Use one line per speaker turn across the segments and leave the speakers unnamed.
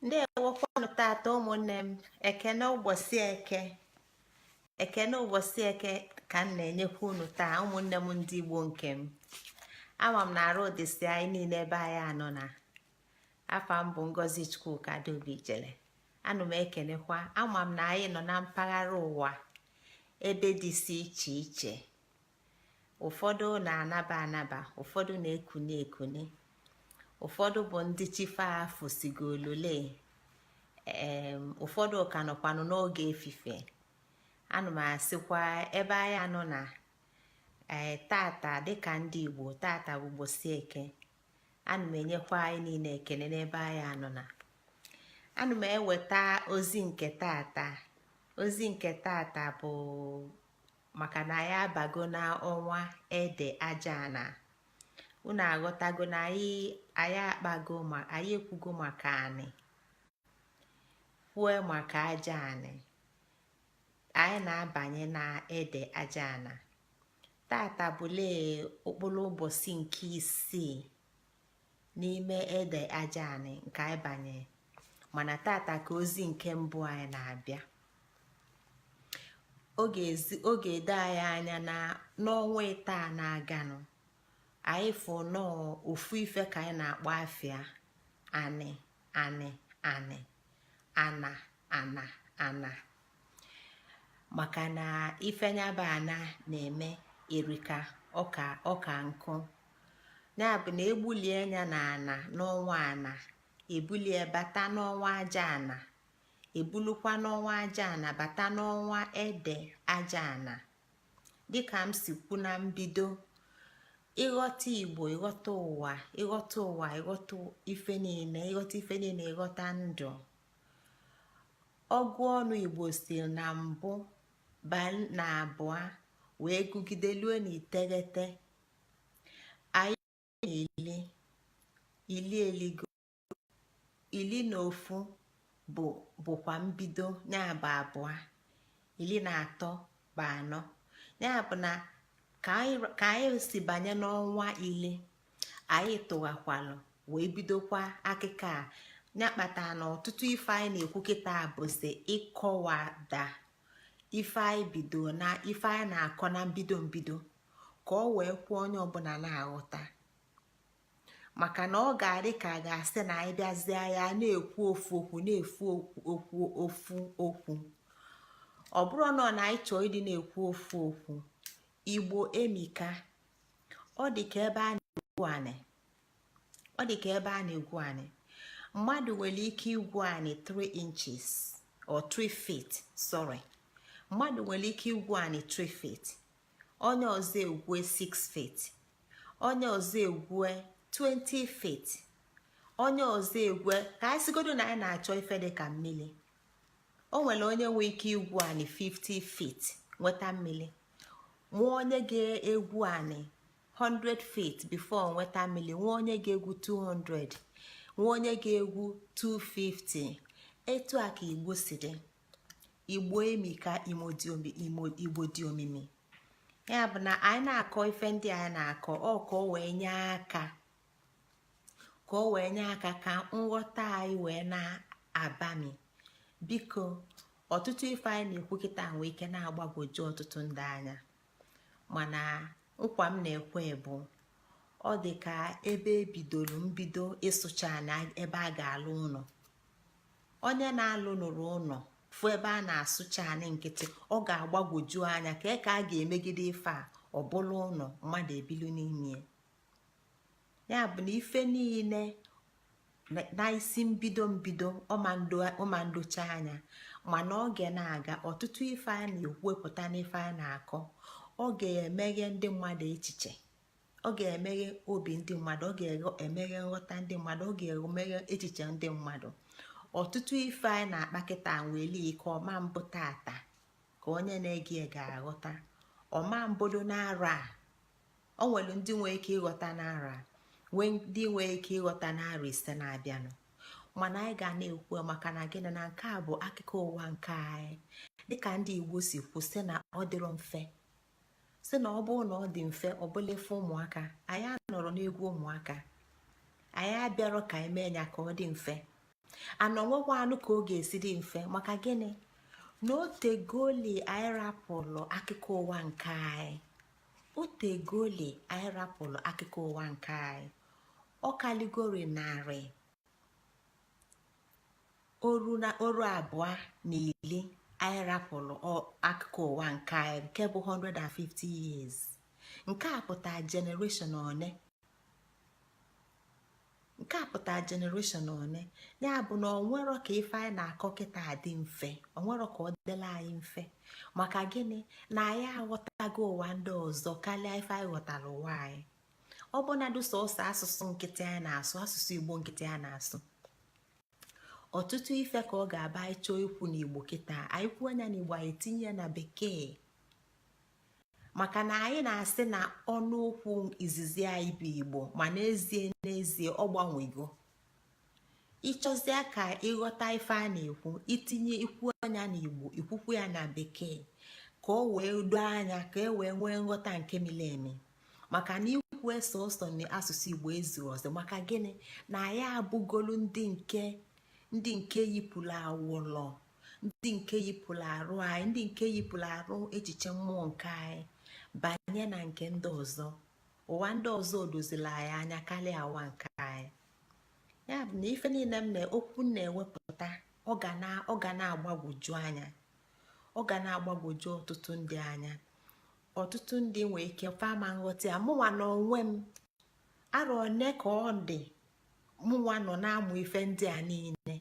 ndeewokwa unu tata ụmụnne m ekene ụbọsị eke ekene ụbọsị eke ka m na-enyekwa unu taa ụmụnne m ndị igbo nke m ama m na arụ dịsị anyị niile ebe anyị anọ na afa m bụ ngozi chukwuka adaobi ijele ana m ekenekwa ama m na anyị nọ na mpaghara ụwa ebe dịsị iche iche ụfọdụ na-anaba anaba ụfọdụ na-ekuni ekuni ụfọdụ bụ ndị chi fa fosigolole ụfọdụ ka nọkwanụ n'oge efifie ana m asịkwa ebe anyị anọ na ee eh, tata dịka ndị igbo tata bụ ụbọsị eke ana m enyekwa anyị niile ekele n'ebe anyị anọ na ana m eweta ozi nke tata ozi nke tata bụ maka na anyị abago n'ọnwa ede aja ana unu aghọtago na anyị anyị akpago ma anyị ekwugo maka anị kwue maka aja anị anyị na-abanye na ede aja ana tata bụlee okpolo ụbọsị nke isii n'ime ede aja anị nke anyị banye mana tata ka ozi nke mbụ anyị na-abịa ọ ga-edo anyị anya na n'ọnwa ịtọ na-aganụ anyị fụ na ọ ofu ife ka anyị na-akpọ afa ya anị anị anị ana ana ana maka na ife nya bụ ana na-eme erika ọka ọka nkụ ya bụ na egbulie ya na ana n'ọnwa ana ebulu bata n'ọnwa aja ana ebulukwa n'ọnwa aja ana bata n'ọnwa ede aja ana dịka m si kwu na mbido ịghọta igbo ịghọta ụwa ịghọta ụwa ịghọta ife niile ịghọta ife niile ịghọta ndụ ọgụ ọnụ igbo si na mbụ baa na abụa wee gụgide lue na iteghete elue ili elue ili na ofu bụ bụkwa mbido ya bụ abụa ili na atọ bụ anọ ya bụ na ka anyị si banye n'ọnwa ili anyị tụghakwalụ wee bidokwa akịkọ a ya kpata na ọtụtụ ife anyị na-ekwu kịta bụzi ịkọwada ife anyị bido na ife anyị na-akọ na mbido mbido ka ọ wee kwe onye ọbụna na-aghọta maka na ọ ga-adị ka a ga-asị na anyị bịazịa ya na-ekwu ofu okwu na ofu okwu ofu okwu ọ bụrọnụ na anyị chọọ ịdị na-ekwu ofu okwu igbo emika ọ dị ka ebe a na-egwu anị ọ dị ka ebe a na-egwu anị mmadụ nwere ike igwu anị 3 inches or 3 feet sorry mmadụ nwere ike igwu anị 3 feet onye ọzọ egwue 6 feet onye ọzọ egwue 20 feet onye ọzọ egwue ka anyị sịgodu na anyị na-achọ ife dị ka mmili o nwere onye nwee ike igwu anị 50 feet nweta mmili nwee onye ga-egwu anị 100 feet before nweta mmili nwee onye ga-egwu 200 nwee onye ga-egwu 250 etu a ka igbo si dị igbo emika igbo dị omimi ya bụ na anyị na-akọ ife ndị anyị na-akọ ọ ka o wee nye aka ka o wee nye aka ka nghọta anyị wee na-abami biko ọtụtụ ife anyị na-ekwu kịta nwee ike na-agbagwoju ọtụtụ ndị anya mana nkwa m na-ekwe bụ ọ dị ka ebe e bidolu mbido ịsụcha anị ebe a ga-alụ ụnọ onye na-alụnurọ ụnọ fụ ebe a na-asụcha anị nkịtị ọ ga-agbagwoju anya ka ka a ga-emegide ife a ọ bụlụ ụnọ mmadụ ebilu n'ime ya bụ na ife niile na isi mbido mbido ọ ma ndocha anya mana oge na-aga ọtụtụ ife a na-ekwupụta n'ife a na-akọ ọ ga-emeghe ndị mmadụ echiche ọ ga-emeghe obi ndị mmadụ ọ ga-emeghe nghọta ndị mmadụ ọ ga-emeghe echiche ndị mmadụ ọtụtụ ife anyị na-akpa kịta nwere ike ọ ma mbụ tata ka onye na-ege ga-aghọta ọ ma mbụdu n'arọ a ọ nwere ndị nwee ike ịghọta n'arọ a nwee ndị nwee ike ịghọta n'arọ ise na-abịanụ mana anyị ga na-ekwu maka na gịnị na nke a bụ akụkọ ụwa nke anyị dịka ndị igbo si kwuo sị na ọ dịrọ mfe sị na ọ bụrụ na ọ dị mfe ọ bụlụ ife ụmụaka anyị anọrọ n'egwu ụmụaka anyị abịarọ ka anyị mee ya ka ọ dị mfe na o nwerọkwanụ ka ọ ga-esi dị mfe maka gịnị na o tegoli anyị rapụlụ akụkọ ụwa nke anyị o tegoli anyị rapụlụ akụkọ ụwa nke anyị ọ kalịgoli narị arọ na oru abụa na ili anyị rapụlụ akụkọ ụwa nke anyị nke bụ 150 years nke a pụta generation one nke a pụta generation one ya bụ na o nwerọ ka ife anyị na-akọ kịta dị mfe o nwerọ ka ọ dịlị anyị mfe maka gịnị na anyị aghọtago ụwa ndị ọzọ kalịa ife anyị ghọtara ụwa anyị ọ bụnadụ sọsọ asụsụ nkịtị a na-asụ asụsụ igbo nkịtị a na-asụ ọtụtụ ife ka ọ ga-abụ anyị chọọ ikwu n'igbo kịta anyị kwuo nya n'igbo anyị tinye na bekee maka na anyị na-asị na ọnụ okwu izizi anyị bụ igbo ma n'ezie n'ezie ọ gbanwego ị chọzịa ka ị ghọta ife a na-ekwu i tinye i kwuo nya na igbo i kwukwuo ya na bekee ka o wee doo anya ka e wee nwee nghọta nke mili emi maka na ikwu ya sọsọ na asụsụ igbo ezurọ ọzọ maka gịnị na anyị abụgolu ndị nke ndị nke yipụrụ awọlọ ndị nke yipụrụ arụ anyị ndị nke yipụrụ arụ echiche mmụọ nke anyị banye na nke ndị ọzọ ụwa ndị ọzọ odozila anyị anya karịa ụwa nke anyị ya bụ na ife niile m na-ekwu na-ewepụta ọ ga na-agbagwoju anya ọ ga na-agbagwoju ọtụtụ ndị anya ọtụtụ ndị nwee ike fa ama nghọta ya mụnwa n'onwe m arọ one ka ọ dị mụnwa nọ na-amụ ife ndị a niile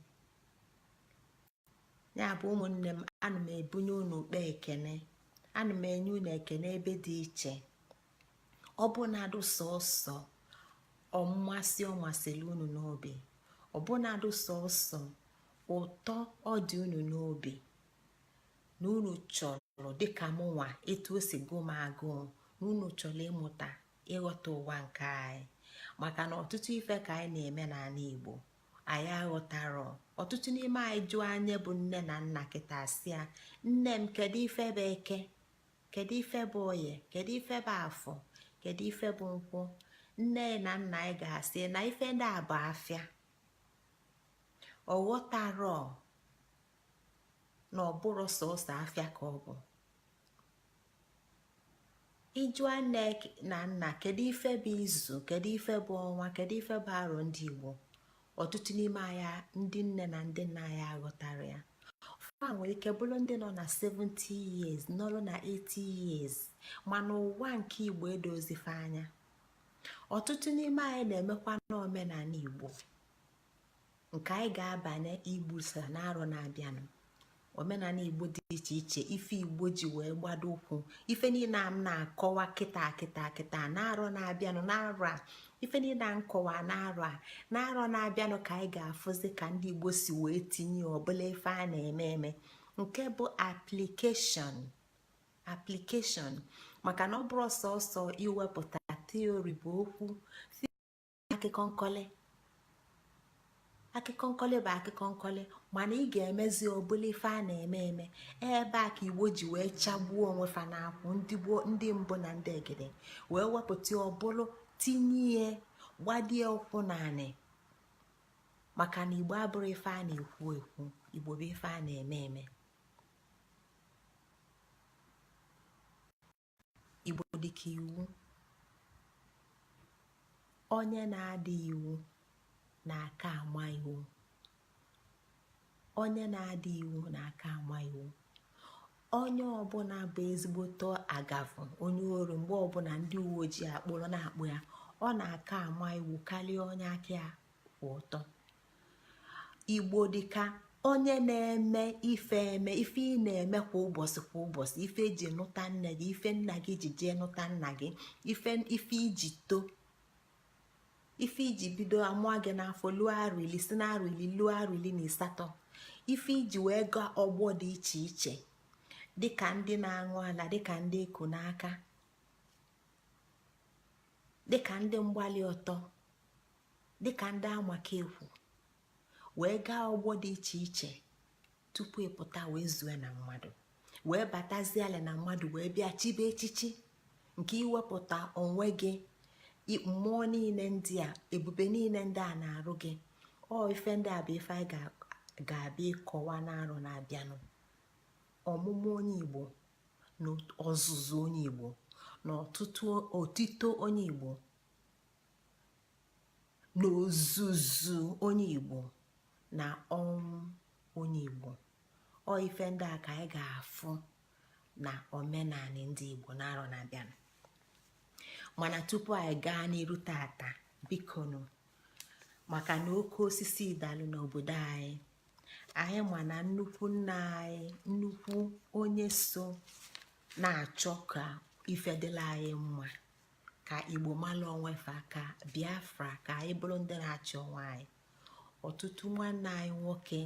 ya bụ ụmụnne m ana m ebunye unu ụkpa ekene ana m enye unu ekene ebe dị iche ọ bụnadụ sọsọ mmasị ọ masịrị unu n'obi ọ bụnadụ sọsọ ụtọ ọ dị unu n'obi na unu chọrọ dịka mụnwa etu o si gụọ m agụụ na unu chọrọ ịmụta ịghọta ụwa nke anyị maka na ọtụtụ ife ka anyị na-eme n'anị Igbo anyị aghọtarọ ọtụtụ n'ime anyị jụọ anyị bụ nne na nna kịta sị ya nne m kedu ife bụ eke kedu ife bụ oye kedu ife bụ afọ kedu ife bụ nkwọ nne na nna anyị ga-asị na ife ndị a bụ afịa ọ ghọtarọ na ọ bụrọ sọsọ afịa ka ọ bụ ị jụa nne na nna kedu ife bụ izu kedu ife bụ ọnwa kedu ife bụ arọ ndị igbo ọtụtụ n'ime anyị ndị nne na ndị nna anyị aghọtarọ ya fa nwere ike bụrụ ndị nọ na 70 years nọrụ na 80 years mana ụwa nke igbo edoozi fa anya ọtụtụ n'ime anyị na-emekwanụ omenanị igbo nke anyị ga-abanye igbusa n'arọ na-abịanụ omenanị igbo dị iche iche ife igbo ji wee gbado ụkwụ ife niile a m na-akọwa kịta kịta kịta n'arọ na-abịanụ n'arọ a ife niile a m kọwa n'arọ a n'arọ na-abịanụ ka anyị ga-afụzi ka ndị igbo si wee tinye ọ bụlụ ife a na-eme eme nke bụ application application maka na ọ bụrọ sọsọ iwepụta theory bụ okwu akụkọ nkọlị akụkọ nkọlị bụ akụkọ nkọlị mana ị ga-emezi ọ bụlụ ife a na-eme eme ebe a ka igbo ji wee chagbuo onwe fa n'akwụ ndị gboo ndị mbụ na ndị egede wee wepụta ọbụlụ tinye ihe gbadie ụkwụ n'anị maka na igbo abụrọ ife a na-ekwu ekwu igbo bụ ife a na-eme eme igbo dịka iwu onye na-ada iwu na-aka ama iwu onye na-ada iwu na-aka ama iwu onye ọbụna bụ ezigbote agafu onye ori mgbe ọbụna ndị uwe ojii akpụrụ na-akpụ ya ọ na-aka ama iwu kalịa onye aka ya kwụ ọtọ igbo dịka onye na-eme ife eme ife ị na-eme kwa ụbọsị kwa ụbọsị ife e ji nụta nne gị ife nna gị ji jee nụta nna gị ife ife i ji too ife i ji bido a mụọ gị n'afọ luo arọ ili si na arọ ili luo arọ ili na ịsatọ ife i ji wee gaa ogbo dị iche iche dịka ndị na-aṅụ ala dịka ndị e ku n'aka dịka ndị mgbali ọtọ dịka ndị amaka ekwu wee gaa ogbo dị iche iche tupu ị pụta wee zue na mmadụ wee batazialị na mmadụ wee bịa chibe echichi nke i wepụta onwe gị mmụọ niile ndị a ebube niile ndị a na-arụ gị ọ ife ndị a bụ ife anyị ga-abịa ịkọwa n'arọ na-abịanụ ọmụmụ onye igbo na ọzụzụ onye igbo na ọtụtụ otito onye igbo n'ozuzu onye igbo na ọnwụ onye igbo ọ ife ndị a ka anyị ga-afụ na omenanị ndị igbo n'arọ na-abịanụ mana tupu anyị gaa n'iru tata bikonu maka na oke osisi dalụ n'obodo anyị anyị ma na nnukwu nna anyị nnukwu onye so na-achọ ka ife dịlị anyị mma ka igbo mala onwefa ka biafra ka anyị bụlụ ndị na-achị onwe anyị ọtụtụ nwanne anyị nwoke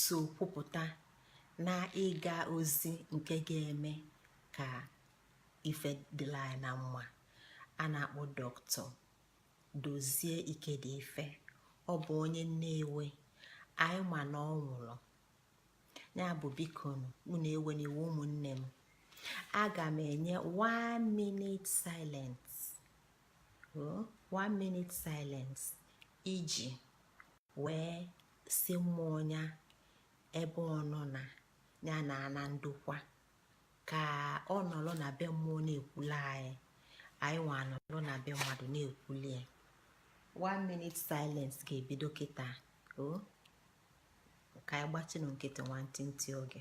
so kwupụta na ịga ozi nke ga-eme ka ife dịlị anyị na mma a na-akpọ doctor dozie ikedife ọ bụ onye nnewi anyị ma na ọ nwụlụ ya bụ bikonụ unu ewena iwe ụmụnne m aga m enye 1 minute silence oh, one minute silence iji wee sị mmụọ ya ebe ọ nọ na ya naa na ndokwa ka ọ nọrọ na be mmụọ na-ekwulu anyị anyị nwa anọrọ na be mmadụ na-ekwuli ya one minute silence ga-ebido kịta o oh. ka anyị gbachinụ nkịtị nwantịntị oge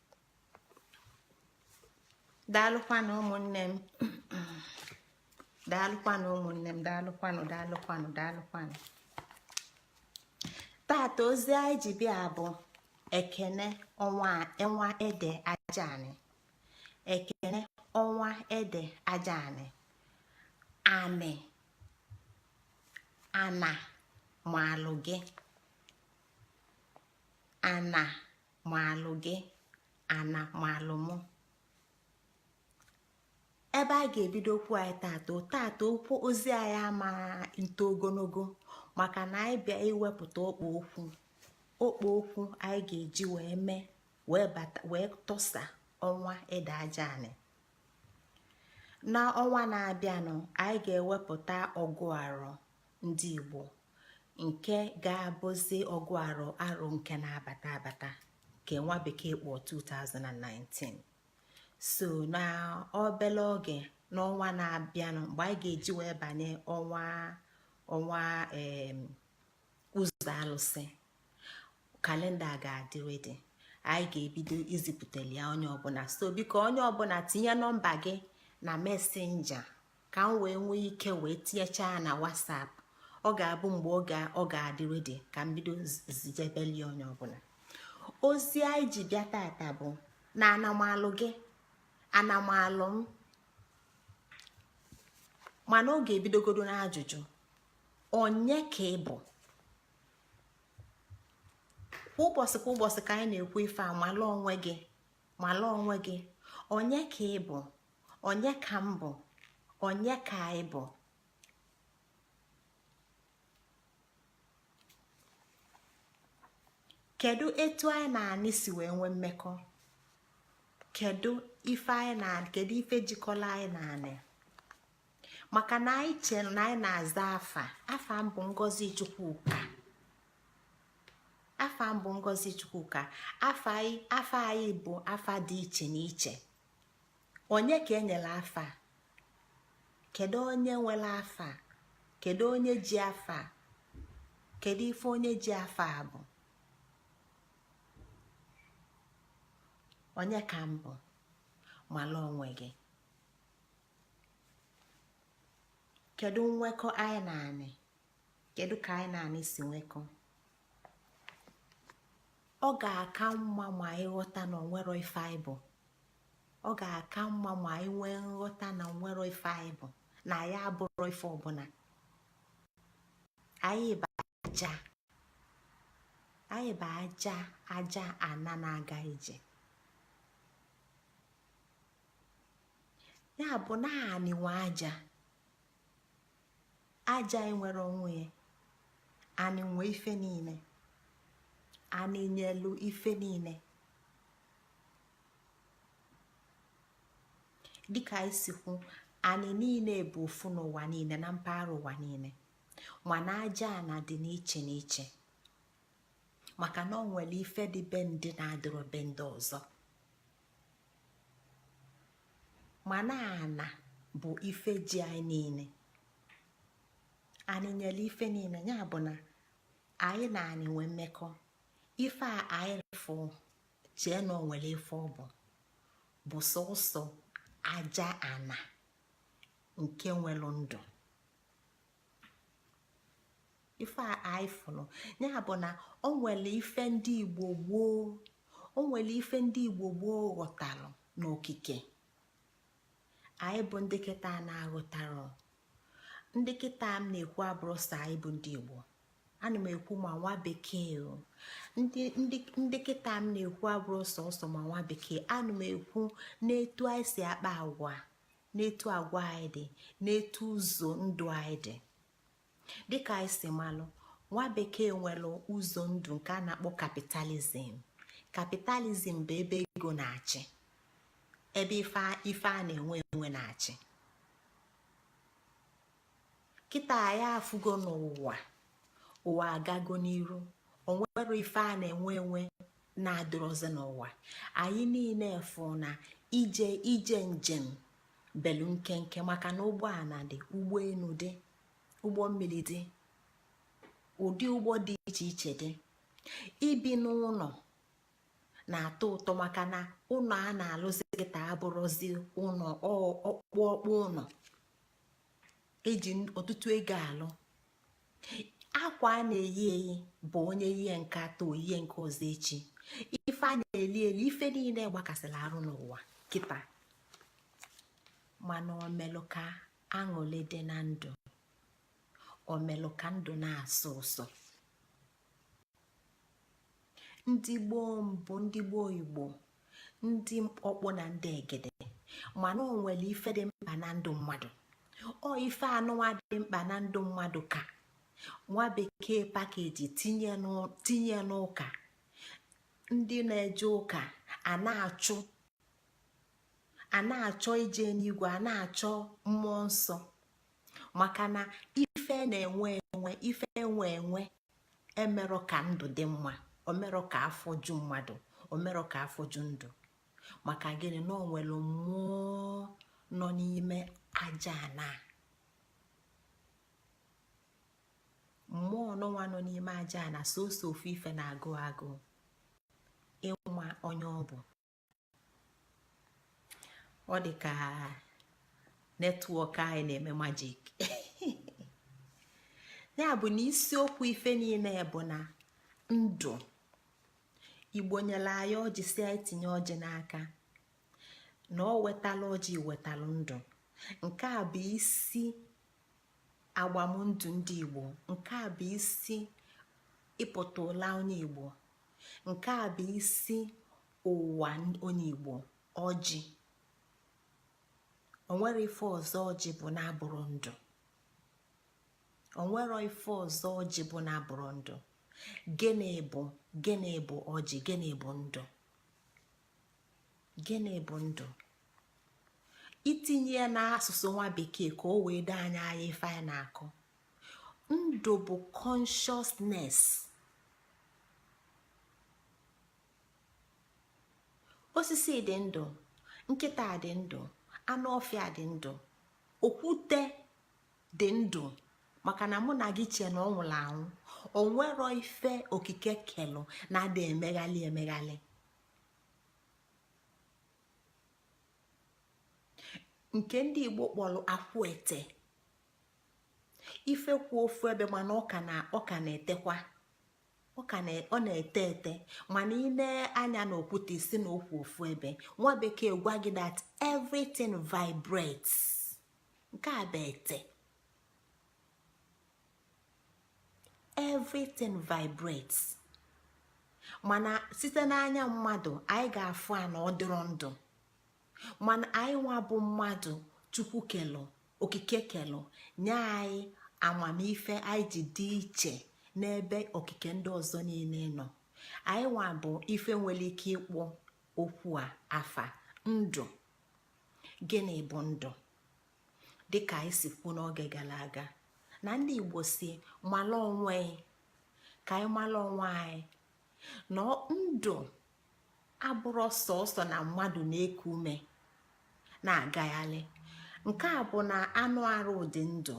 daalụkwanụ ụmụnne m daalụkwanụ ụmụnne m daalụkwanụ daalụkwanụ daalụkwanụ tata ozi anyị ji bịa bụ ekene ọnwa ede aja anị ekene ọnwa ede aja anị anị ana maalụ gị ana maalụ gị ana maalụ mụ ebe a ga-ebido okwu anyị tata tata okwu ozi anyị ama nto ogologo maka na anyị bịa iwepụta okpo okwu okpo okwu anyị ga-eji wee mee wee tọsa ọnwa ede aja anị na ọnwa na-abịanụ anyị ga-ewepụta ọgụ arọ ndị igbo nke ga-abụzi ọgụ arọ arọ nke na-abata abata nke nwa bekee kpọ 2019 so na obele oge n'ọnwa na-abịanụ mgbe anyị ga-eji wee banye ọnwa ọnwa ụzọ alụsị kalenda ga-adị ready anyị ga-ebido izipụtali ya onye ọbụla so biko onye ọbụla tinye nọmba gị na messenger ka m wee nwee ike wee tinyechaa na whatsapp ọ ga-abụ mgbe oge ọ ga-adị ready ka m bido zijebeli onye ọbụla ozi anyị ji bịa tata bụ na ana maalụ gị ana maalụ m mana ọ ga-ebidogodo n'ajụjụ onye ka ị bụ kwa ụbọsị kwa ụbọsị ka anyị na-ekwu ife a mala onwe gị mala onwe gị onye ka ị bụ onye ka m bụ onye ka anyị bụ kedu etu anyị na anị si wee nwee mmekọ kedu ife anyị na kedu ife jikọlụ anyị na anị maka na anyị che na anyị na-aza afa afa m bụ ngozi chukwuka afa m bụ ngozi chukwuka afa anyị bụ afa dị iche n'iche onye ka e nyelu afa kedu onye nwelu afa kedu onye ji afa kedu ife onye ji afa abụ onye ka m bụ mala onwe gị kedu nwekọ anyị na anị kedu ka anyị na anị si nwekọ ọ ga-aka mma ma anyị ghọta na o nwerọ ife anyị bụ ọ ga-aka mma ma anyị nwee nghọta na o nwerọ ife anyị bụ na anyị abụrọ ife ọbụla anyị bụ aja anyị bụ aja aja ana na-aga ije ya bụ na anị nwe aja aja enwerọ onwe ya anị nwe ife niile anị nyelu ife niile dịka anyị si kwu anị niile bụ ofu n'ụwa niile na mpaghara ụwa niile mana aja ana dị n'iche n'iche maka na o nwelu ife dị be ndị na-adịrọ be ndị ọzọ mana ana bụ ife ji anyị niile anị nyelu ife niile ya bụ na anyị na anị nwee mmekọ ife a anyị fụ chee na o nwelu ife ọ bụ bụ sọsọ aja ana nke nwelu ndụ ife a anyị fụrụ ya bụ na o nwere ife ndị igbo gboo o nwere ife ndị igbo gboo ghọtara n'okike anyị bụ ndị kịta na-aghọtarọ ndị kịta m na-ekwu abụrọ sọ anyị bụ ndị igbo ana m ekwu ma nwa bekee ndị kịta m na-ekwu abụrọ sọsọ ma nwa bekee ana m ekwu n'etu anyị si akpa agwa n'etu agwa anyị dị n'etu ụzọ ndụ anyị dị dịka anyị si malụ nwa bekee nwelu ụzọ ndụ nke a na-akpọ capitalism capitalism bụ ebe ego na-achị ebe ife a na-enwe enwe na-achị kịta anyị afụgo na ụwa ụwa agago n'iru o nwere ife a na-enwe enwe na-adịrọzi n'ụwa anyị niine fụ na ije ije njem belu nkenke maka na ụgbọana dị ụgbọenu dị ụgbọ mmili dị ụdị ụgbọ dị iche iche dị ibi n'ụnọ na-atọ ụtọ maka na ụnọ a na-alụzi kịta abụrụzi ụnọ ọkpụ ọkpụ ụnọ e ji ọtụtụ ego alụ akwa a na-eyi eyi bụ onye yie nke taa o yie nke ọzọ echi ife a na-eli eli ife niine gbakasịrị arụ n'ụwa kịta mana o melụ ka aṅụlị dị na ndụ o melụ ka ndụ na-asọ ụsọ ndị gboo mbụ ndị gboo igbo ndị ọkpụ na ndị egede ma na o nwere ife dị mkpa na ndụ mmadụ ọ ife anụwa dị mkpa na ndụ mmadụ ka nwa bekee pakeji tinye n'ụka ndị na-eje ụka a na-achụ a na-achọ ije n'igwe a na-achọ mmụọ nsọ maka na ife na-enwe enwe ife enwe enwe emerọ ka ndụ dị mma o merọ ka afọ ju mmadụ o merọ ka afọ ju ndụ maka gịnị na o nwere mmụọ nọ n'ime aja na mmụọ ọnụnwa nọ n'ime aja na sọsọ ofu ife na-agụ agụụ ịma onye ọ bụ ọ dị ka netwọk anyị na-eme majik ya bụ na isiokwu ife niine bụ na ndị igbo nyere anyị ọjị sị anyị tinye ọjị n'aka na o wetara ọjị wetara ndụ nke a bụ isi agbamndụ ndị igbo nke a bụ isi ịpụta ụla onye igbo nke a bụ isi ụwa onye igbo ọjị o nwere ife ọzọ ọjị bụ na-abụrọ ndụ o nwere ife ọzọ ọjị bụ na-abụrọ ndụ gịnị bụ gịnị bụ ọjị gịnị bụ ndụ gịnị bụ ndụ i tinye ya n'asụsụ nwa bekee ka o wee doo anyị anya ife anyị na-akọ ndụ bụ consciousness osisi dị ndụ nkịta dị ndụ anụ ọfịa dị ndụ okwute dị ndụ maka na mụ na gị chee na ọ nwụrụ anwụ o nwerọ ife okike kelụ na-ada emeghalị emeghalị nke ndị igbo kpọrọ akwụete ife kwụ ofu ebe mana ọ ka na-etekwa ọ na-ete ete mana i nee anya na okwute ị sị na ọ kwụ ofu ebe nwa bekee gwa gị that everything vibrates nke bụ ete everything vibrates mana site n'anya mmadụ anyị ga-afụ a na ọ dịrọ ndụ mana anyị nwa bụ mmadụ chukwu kelụ okike kelụ nye anyị amamife anyị ji dị iche n'ebe okike ndị ọzọ niine nọ anyị nwa bụ ife nwelu ike ịkpọ okwu a afa ndụ gịnị bụ ndụ dịka anyị si kwuo n'oge gala aga na ndị igbo sị mala onwe gị ka anyị mala onwe anyị na ndụ abụrọ sọsọ na mmadụ na-eku ume na-agaghalị nke a bụ na anụ arụ dị ndụ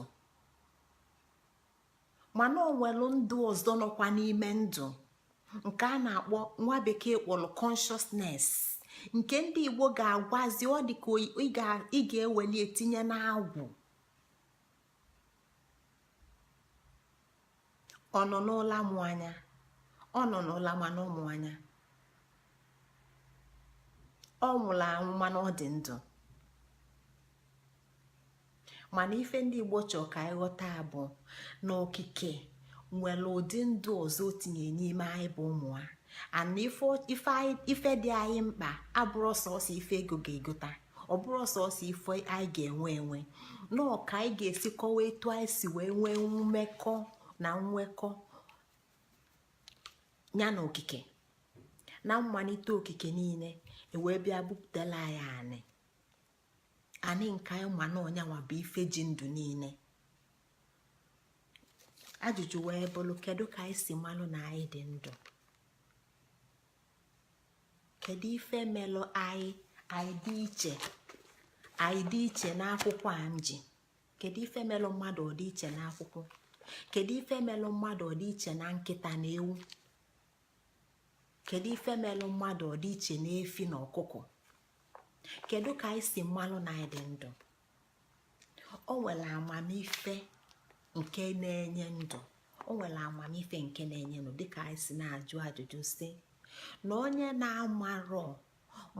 mana o nwelu ndụ ọzọ nọkwa n'ime ndụ nke a na-akpọ nwa bekee kpọlụ consciousness nke ndị igbo ga-agwazi ọ dị ka ị ga-eweli e tinye n'agwụ ọ nọ n'ụla mụ anya ọ nọ n'ụla mana ọ mụ anya ọ nwụlụ anwụ mana ọ dị ndụ mana ife ndị igbo chọọ ka anyị ghọta bụ na okike nwere ụdị ndụ ọzọ o tinye n'ime anyị bụ ụmụ a and ife dị anyị mkpa abụrọ sọsọ ife ego ga-egota ọ bụrọ sọsọ ife anyị ga-enwe enwe na ọ ka anyị ga-esi kọwa etu anyị si wee nwee mmekọ na nwekọ ya na okike na mmalite okike niine e wee bịa budala ya anị anị nke anyị ma na ọ nya nwa bụ ife ji ndụ niine ajụjụ wee bụlụ kedu ka anyị si malụ na anyị dị ndụ kedu ife melụ anyị anyị dị iche anyị dị iche n'akwụkwọ a m ji kedu ife melụ mmadụ ọ dị iche n'akwụkwọ kedu ife melụ mmadụ ọ dị iche na nkịta na ewu kedu ife melụ mmadụ ọ dị iche na efi na ọkụkọ kedu ka anyị si malụ na anyị dị ndụ o nwere amamife nke na-enye ndụ o nwere amamife nke na-enye ndụ dịka anyị si na-ajụ ajụjụ sị na onye na-amarọ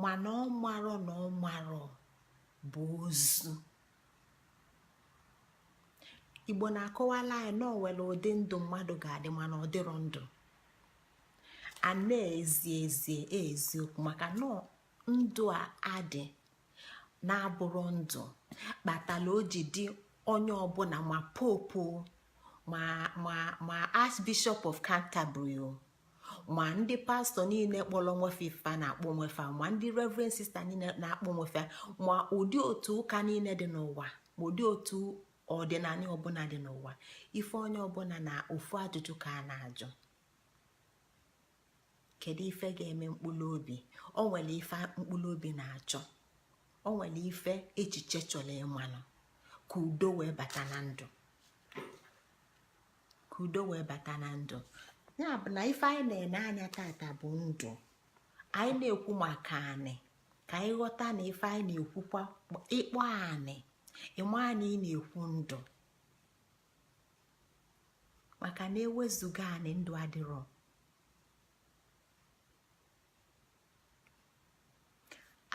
mana ọ marọ na ọ marọ bụ ozu igbo na-akọwala anyị na o nwelu ụdị ndụ mmadụ ga-adị mana ọ dịrọ ndụ a n'ezi ezie eziokwu maka na ndụ a a dị na-abụrụ ndụ kpatara o ji dị onye ọbụla ma pope ma ma ma archbishop of canterbury o ma ndị pastor niile kpọrọ onwe fa ife fa na-akpọ onwe fa ma ndị reverend sister niile na-akpọ onwe fa ma ụdị otu ụka niile dị n'ụwa ma ụdị otu ọdịnala ọbụla dị n'ụwa ife onye ọbụla na ofu ajụjụ ka a na-ajụ kedu ife ga-eme mkpụrụ obi o nwere ife mkpụrụ obi na-achọ o nwere ife echiche chọrọ ịmalụ ka udo wee bata na ndụ ka udo wee bata na ndụ ya bụ na ife anyị na-ene anya tata bụ ndụ anyị na-ekwu maka anị ka anyị ghọta na ife anyị na-ekwukwa ị kpọọ anị ị ma na ị na-ekwu ndụ maka na ewezuga anị ndụ adịrọ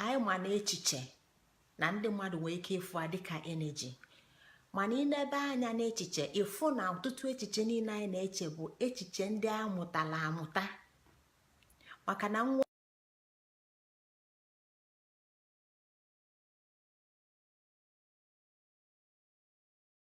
anyị ma na echiche na ndị mmadụ nwee ike ịfụ a dịka energy mana i nebe anya n'echiche ị fụ na ọtụtụ echiche niile anyị na-eche bụ echiche ndị a mụtara amụta maka na nwa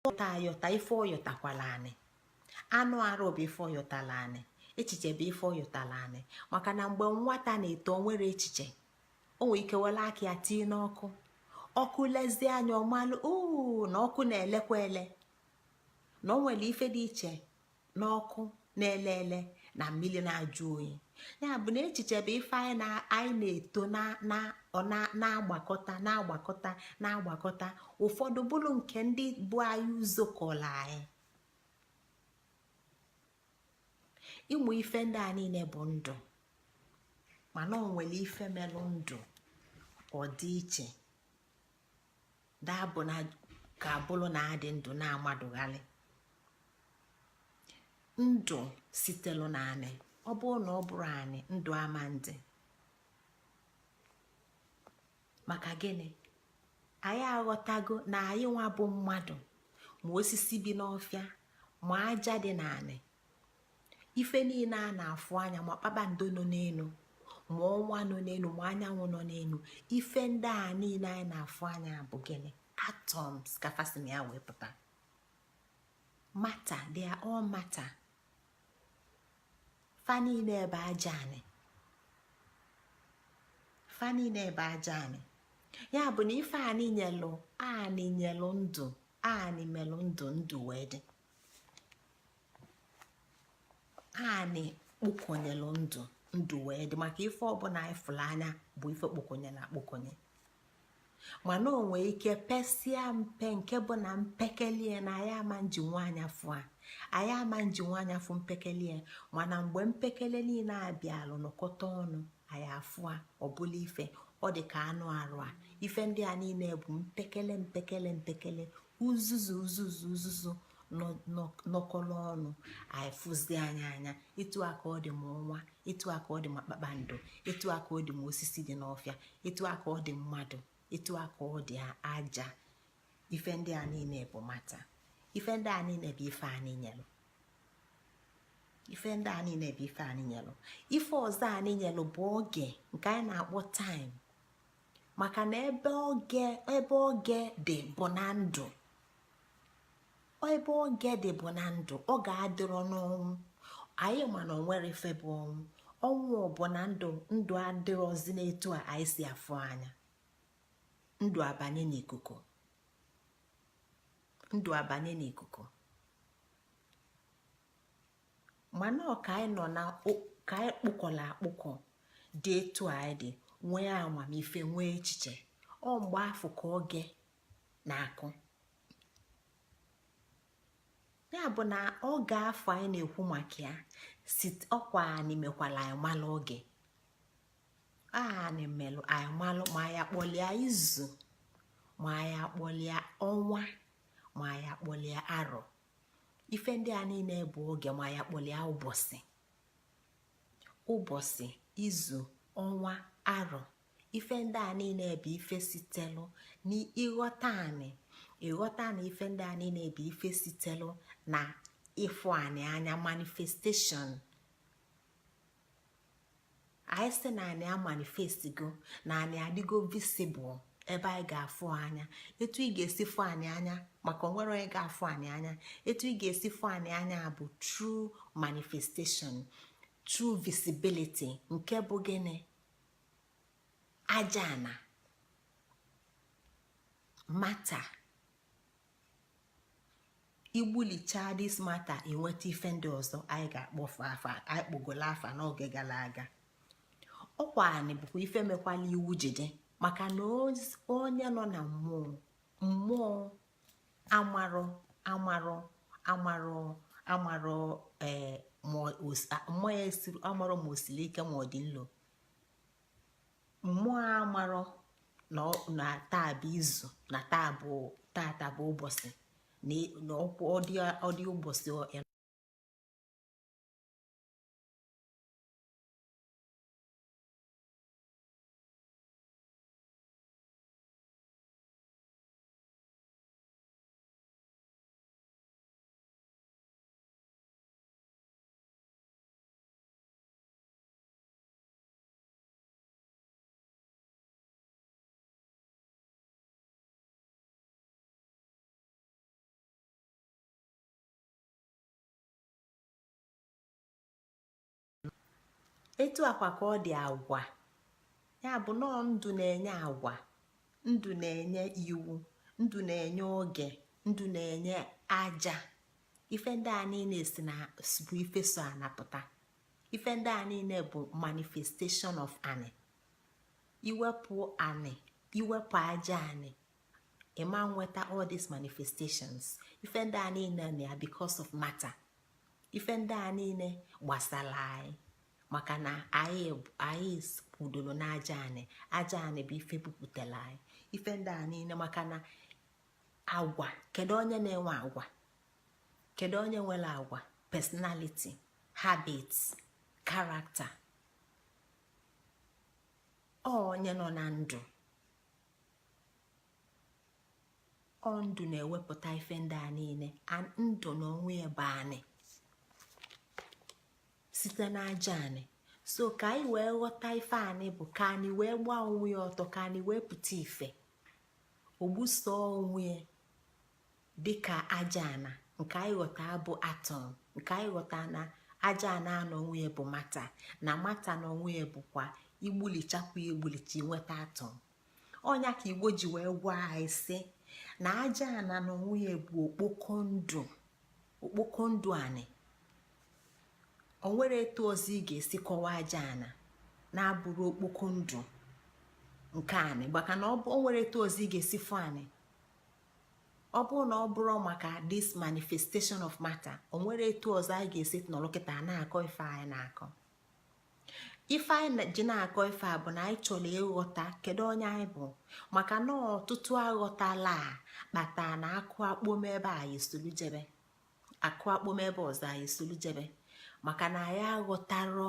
ọ yọta ayọta ife ọ yọtakwala anị anụ arụ bụ ife ọ yọtala anị echiche bụ ife ọ yọtala anị maka na mgbe nwata na-eto o nwerọ echiche o nwere ike were aka ya tii n'ọkụ ọkụ lezie nya ọ malụ oo na ọkụ na-elekwa ele na o nwere ife dị iche n'ọkụ na-ele ele na mmiri na-ajụ oyi ya bụ na echiche bụ ife anyị na-eto na-agbakọta na-agbakọta na-agbakọta ụfọdụ bụrụ nke ndị bu anyị ụzọ kọla anyị ịmụ ife ndị a niile bụ ndụ mana o nwere ife melụ ndụ ọ dị iche ya bụ na ka ọ bụrụ na a dị ndụ na mmadụ ga-adị ndụ sitelu na anị ọ bụrụ na ọ bụrọ anị ndụ ama adị maka gịnị anyị aghọtago na anyị nwa bụ mmadụ ma osisi bi n'ọfịa ma aja dị n'anị ife niile a na-afụ anya ma kpakpando nọ n'elu ma ọnwa nọ n'elu ma anyanwụ nọ n'elu ife ndị a niile anyị na-afụ anya bụ gịnị atoms ka fa si na ya wee pụta matter they are all matter fa niile bụ aja anị fa niile bụ aja anị ya bụ na ife anị nyelụ anị nyelụ ndụ anị melụ ndụ ndụ wee dị anị kpokonyelụ ndụ ndụ wee dị maka ife ọbụla ị fụlụ anya bụ ife kpokonyelụ akpokonye mana o nwee ike pesia mpe nke bụ na mpekele na anyị ama ejinwu anya fụ a anyị ama ejinwu anya fụ mpekele mana mgbe mpekele niile bịalụ nọkọta ọnụ anyị afụ a ọ bụlụ ife ọ dị ka anụ arụ a ife ndị a niile bụ mpekele mpekele mpekele uzuzu uzuzu uzuzu nọkọlụ ọnụ anyị fụzie anya anya etu a ka ọ dị ma ọnwa etu a ka ọ dị ma kpakpando etu a ka ọ dị ma osisi dị n'ọfịa etu a ka ọ dị mmadụ etu a ka ọ dị aja ife ndị a niile bụ matter ife ndị a niile bụ ife anị nyelụ ife ndị a niile bụ ife anị nyelụ ife ọzọ anị nyelụ bụ oge nke anyị na-akpọ time maka na ebe oge ebe oge dị bụ na ndụ ebe oge dị bụ na ndụ oge adịrọ n'ọnwụ anyị ma na o nwerọ ife bụ ọnwụ ọnwụ bụ na ndụ ndụ adịrọzi n'etu a anyị si afụ anya ndụ abanye n'ikuku ndụ abanye n'ikuku mana ọ ka anyị nọ na ka anyị kpụkọlụ akpụkọ dị etu anyị dị nwee amamife nwee echiche ọ mgbe afụ ka oge na-akụ ya bụ na oge afụ anyị na-ekwu maka ya sị ọkwa anị mekwalụ anyị malụ oge anị melụ anyị malụ ma ya kpọlịa izu ma ya kpọlịa ọnwa ma ya kpọlịa arọ ife ndị a niile bụ oge ma ya kpọlịa ụbọsị ụbọsị izu ọnwa arọ ife ndị a niile bụ ife sitelụ n'ịghọta anị ịghọta anị ife ndị a niile bụ ife sitelụ na ịfụ anị anya manifestation anyị sị na anị amanifestgo na anị adịgo visible ebe anyị ga-afụ anya etu ị ga-esi fụ anị anya maka o nwerọ onye ga-afụ anị anya etu ị ga-esi fụ anị anya bụ through manifestation through visibility nke bụ gịnị aja ana matter i gbulichaa this matter i nweta ife ndị ọzọ anyị ga-akpọfe afa anyị kpọgolu afa n'oge galụ aga ọkwa anị bụkwa ife mekwalụ iwu ji dị maka na onye nọ na mmụọ mmụọ amarọ amarọ amarọ amarọ ee eh, mmụọ ya amarọ ma o sili ike ma ọ dị nlo mmụọ amarọ na taa bụ izu na taa bụ taata bụ ụbọsị na ọkwa ọ dị ụbọsị etu a kwa ka ọ dị agwa ya bụ na ọ ndụ na-enye agwa ndụ na-enye iwu ndụ na-enye oge ndụ na-enye aja ife ndị a niine si na bụ ife so ana apụta ife ndị a niine bụ manifestation of anị i wepụ anị i wepụ aja anị ị ma nweta all these manifestations ife ndị a niine na ya because of matter ife ndị a niine gbasalụ anyị maka na anyị anyị kwudolo n'aja anị aja anị bụ ife bupụtalụ anyị ife ndị a niine maka na agwa kedu onye na-enwe agwa kedu onye nwelu agwa personality habits character onye nọ na ndụ ọ ndụ na-ewepụta ife ndị a niine and ndụ na onwe ya bụ anị site n'aja anị so ka anyị wee ghọta ife anị bụ ka anị wee gbaa onwe ya ọtọ ka anị wee pụta ife o gbuso onwe dịka aja ana nke anyị ghọta bụ atom nke anyị ghọta na aja ana na onwe ya bụ matter na matter na onwe ya bụkwa i gbulichakwa i gbulicha i nweta atom ọ nya ka igbo ji wee gwa anyị sị na aja ana na onwe ya bụ okpoko ndụ okpoko ndụ anị o nwerọ etu ọzọ ị ga-esi kọwaa aja ana na-abụrọ okpoko ndụ nke anị maka na o nwerọ etu ọzọ ị ga-esi fụ anị ọ bụrụ na ọ bụrọ maka this manifestation of matter o nwerọ etu ọzọ anyị ga-esi nọrọ kịta na-akọ ife anyị na-akọ ife anyị ji na-akọ ife a bụ na anyị chọlọ ịghọta kedu onye anyị bụ maka na ọtụtụ aghọtala a kpatara na a kụa kpom ebe a anyị solu jebe a kụa kpom ebe ọzọ anyị solu jebe maka na anyị aghọtarọ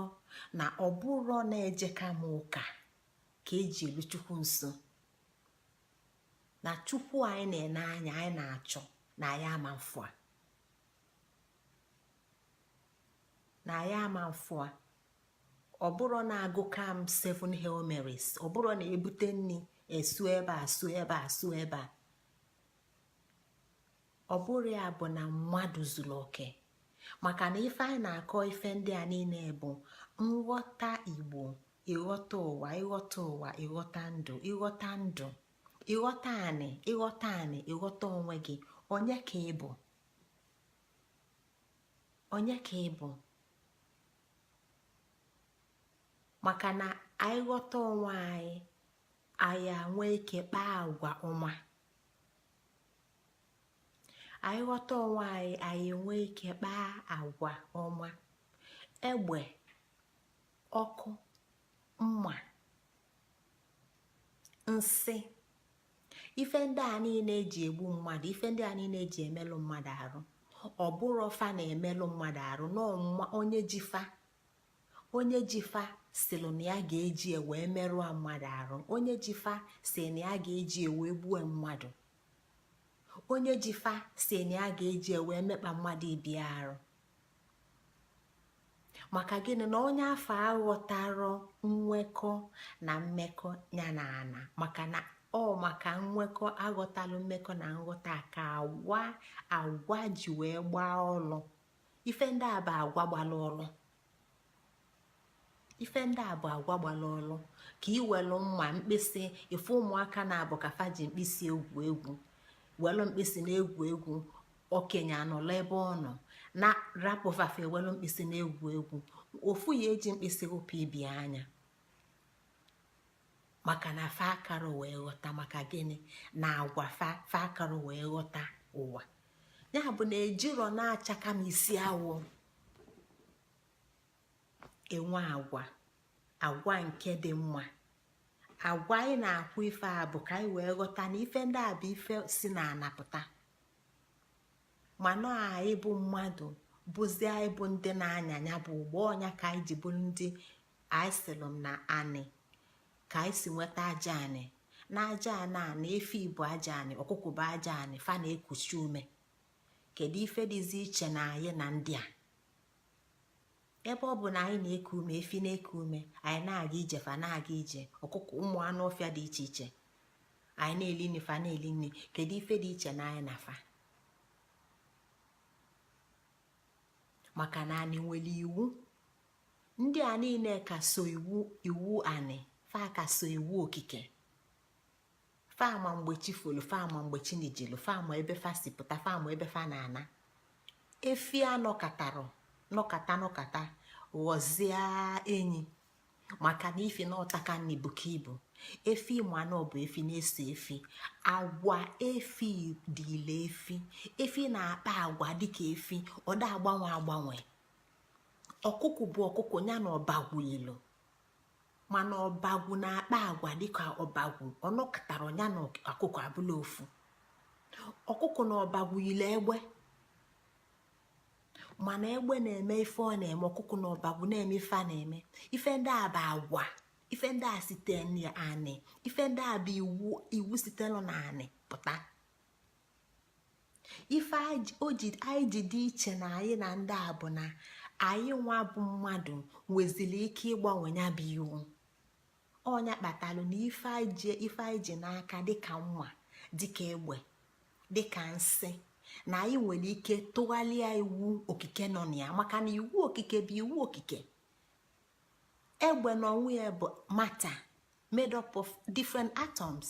na ọ bụrọ na ejeka m ụka ka e ji elu chukwu nso na chukwu anyị na-ene anya anyị na-achọ na ya ama mfụ a na ya ama mfụ a ọ bụrụ na agụka m seven hail marys ọ bụrụ na ebute nni esu ebe a su ebe a su ebe a ọ bụrụ ya bụ na mmadụ zulu oke maka na ife anyị na-akọ ife ndị a niile bụ nghọta igbo ịghọta ụwa ịghọta ụwa ịghọta ndụ ịghọta ndụ ịghọta anị ịghọta anị ịghọta onwe gị onye ka ị bụ onye ka ị bụ maka na anyị ghọta onwe anyị anyị nwee ike kpaa agwa ọma anyị ghọta onwe anyị anyị enwee ike kpaa agwa ọma egbe ọkụ mma nsi ife ndị a niile e ji egbu mmadụ ife ndị a niile e ji emelụ mmadụ arụ ọ bụrọ fa na-emelụ mmadụ arụ na onye ji fa onye ji fa sịlụ na ya ga-eji e wee merụa mmadụ arụ onye ji fa sị na ya ga-eji e wee gbue mmadụ onye ji fa sị na ya ga-eji e wee mekpa mmadụ ibe arụ maka gịnị na onye afụ aghọtarọ nwekọ na mmekọ ya na ana maka na ọ maka nwekọ aghọtalụ mmekọ na nghọta ka agwa agwa ji wee gbaa ọlụ ife ndị a bụ agwa gbalụ ọlụ ife ndị a bụ agwa gbalụ ọlụ ka i welu mma mkpịsị ife ụmụaka na-abụ ka fa ji mkpịsị egwu egwu welu mkpịsị na-egwu egwu okenye anọlụ ebe ọ nọ na rapụ fa fa ewelu mkpịsị na-egwu egwu ofu ya eji mkpịsị dụpụ ibe anya maka na fa akarọ wee ghọta maka gịnị na agwa fa fa akarọ wee ghọta ụwa ya bụ na e jirọ na achaka m isi awọ enwe agwa agwa nke dị mma agwa anyị na-ekwu ife a bụ ka anyị wee ghọta na ife ndị a bụ ife si n'ana pụta mana anyị bụ mmadụ bụzi anyị bụ ndị na-anya ya bụ ụgbọ ọ nya ka anyị ji bụrụ ndị anyị sịlụ m na anị ka anyị si nweta aja anị na aja anị a na efi bụ aja anị ọkụkụ bụ aja anị fa na-ekusi ume kedu ife dịzi iche na anyị na ndị a ebe ọ bụ na anyị na-eku ume efi na-eku ume anyị na-aga ije fa na-aga ije ọkụkụ ụmụ anụ ọfịa dị iche iche anyị na-eli nni fa na-eli nni kedu ife dị iche na anyị na fa maka na anyị nwelu iwu ndị a niine ka so iwu iwu anị fa ka so iwu okike fa ma mgbe chi folu fa ma mgbe chi nijilu fa ma ebe fa si pụta fa ma ebe fa na-ana efi anọkatarọ nọkata nọkata ghọzie enyi maka na ifi na ọ taka nni buka ibu efi ị manụ bụ efi na-eso efi agwa efi dịịlị efi efi na-akpa agwa dịka efi ọ da agbanwe agbanwe ọkụkụ bụ ọkụkụ nya na ọbagwu yilu mana ọbagwu na-akpa agwa dịka ọbagwu ọ nọkatarọ nya na ọkụkụ abụlụ ofu ọkụkụ na ọbagwu yilu egbe mana egbe na-eme ife ọ na-eme ọkụkụ na ọbagwu na-eme ife a na-eme ife ndị a bụ agwa ife ndị a site n'anị ife ndị a bụ iwu iwu sitelu n'anị pụta ife anyị ji dị iche na anyị na ndị a bụ na anyị nwa bụ mmadụ nwezili ike ịgbanwe nya bụ iwu ọ nya kpatalụ na ife anyị ji n'aka dịka mma dịka egbe dịka nsị na anyị nwere ike tụghalịa iwu okike nọ na ya maka na iwu okike bụ iwu okike egbe na onwe ya bụ matter made up of different atoms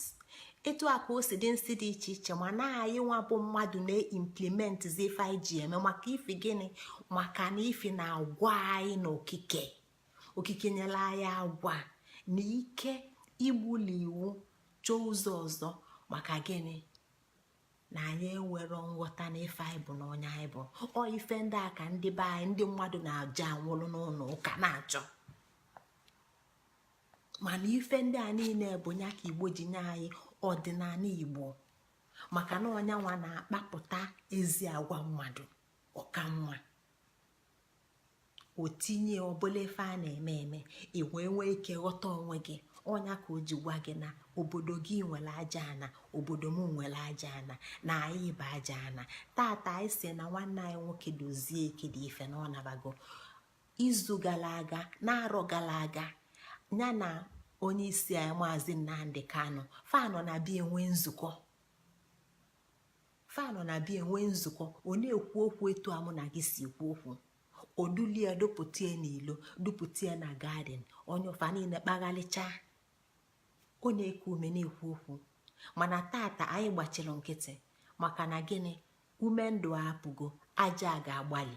etu a ka o si dị nsị dị iche iche mana anyị nwa bụ mmadụ na-implement ife anyị ji eme maka ifi gịnị maka na ifi na agwa anyị na okike okike nyelu anyị agwa na ike igbuli iwu chọọ ụzọ ọzọ maka gịnị na anyị enwerọ nghọta na ife anyị bụ na onye anyị bụ ọ ife ndị a ka ndị be anyị ndị mmadụ na-eje anwụlụ n'ụnọ ụka na-achọ mana ife ndị a niine bụ nya ka igbo ji nye anyị ọdịnanị igbo maka na ọ nya nwa na-akpapụta ezi agwa mmadụ ọ ka nwa otinye ọbụla ife a na-eme eme ị wee nwee ike ghọta onwe gị ọ nya ka o ji gwa gị na obodo gị nwere aja ana obodo m nwere aja ana na anyị bụ aja ana taata anyị sị na nwanne anyị nwoke dozie ikedife na ọ nabago izu gala aga na arọ gala aga nya na onye isi anyị maazị nnamdi kanu fa nọ na be ya enwe nzukọ fa nọ na be ya enwe nzukọ ọ na-ekwu okwu etu a mụ na gị si ekwu okwu o dulie ya dupụta ya n'ilo dupụta ya na garden onye fa niine kpaghalịcha ọ na-eku ume na-ekwu okwu mana taata anyị gbachilu nkịtị maka na gịnị ume ndụ apụgo aja ga-agbalị